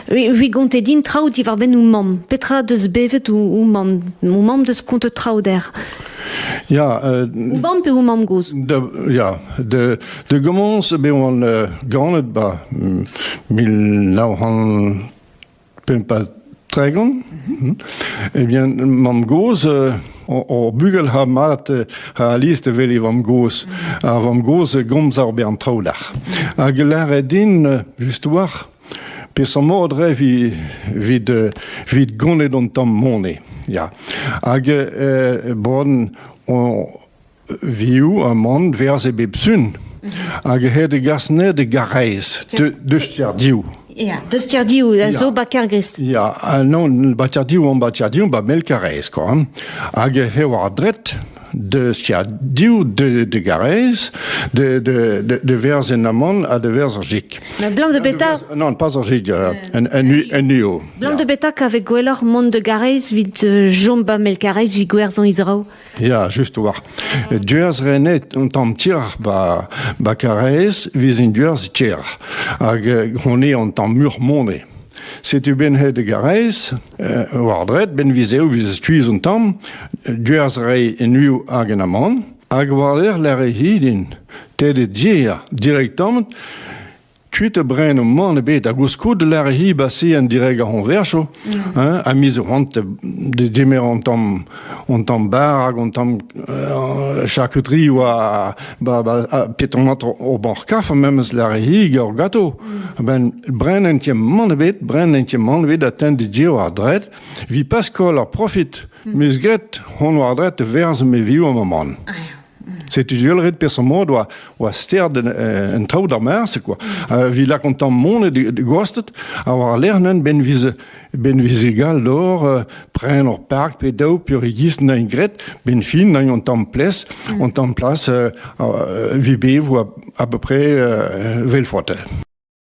Vi gonte din traoù diwar-benn ho mamm. Petra deus bevet ho mamm? Ho mamm deus kontet traoù dec'h. Ya. Ho mamm pe ho mamm gozh? Ya. De, de gommence be oan ganet ba mil nav c'hant pemp ha Tregont. Eh bien, mamm-gozh, euh, hor bugel ha mat euh, ha alist evel e vamm-gozh. Ar vamm-gozh gomz ar be an traoù lac'h. Hag lâret din, euh, just war, peseurt mod re vit, vit gonet an tamm mone. Ya. Hag, bon, vioù amann verze bep sun, hag he degas ne de garrez, deustirdiv. Ja, deustirdiv a zo ba kergrist. Ja, non, batirdiv on batirdiv ba mel karrez, kon. Hag he war dret, de stiadiou de, de garez, de, de, de, de vers en amon a de vers orgique. Mais blanc de bêta Non, pas orgique, euh, un, un, un UO. Blanc de bêta qu'avec gouelor monde de garez vid euh, jomba mel garez vi gwerzon izrao. Ya, just war. Duerz renet un tamm tier ba, ba Karaez vezin duerz tier. Hag euh, on est un tamm murmone. Setu ben hed Garez, euh, war dret, ben vizeu viz tuiz un tamm, duerz rei en uiu hag en aman, hag war lec'h lec'h hidin, te de dir, direktamant, kuit brein o man ebet ha goulskoude lec'h hi basi en direg ar c'hoñversoù hein, ha miz c'hoant de demer an tamm an tamm bar hag an tamm euh, charcuterie oa ba ba petonat o banc'h-kaf memes lec'h hi gant gato ben brein en tiem man ebet brein en tiem man ebet a ten de dir war dret vi pas koll ar profit miz get hon war dret e verz me viou am man Setu du ret peseurt mod oa, oa sterd en traoù d'ar mars, quoi. Vi lak an tamm mont e gostet, ha war lernen ben viz ben viz gal d'or, euh, pren or park pe daou purigis nain gret, ben fin nain an tamm ples, mm. an tamm plas euh, euh, vi bev a peu près vel frote.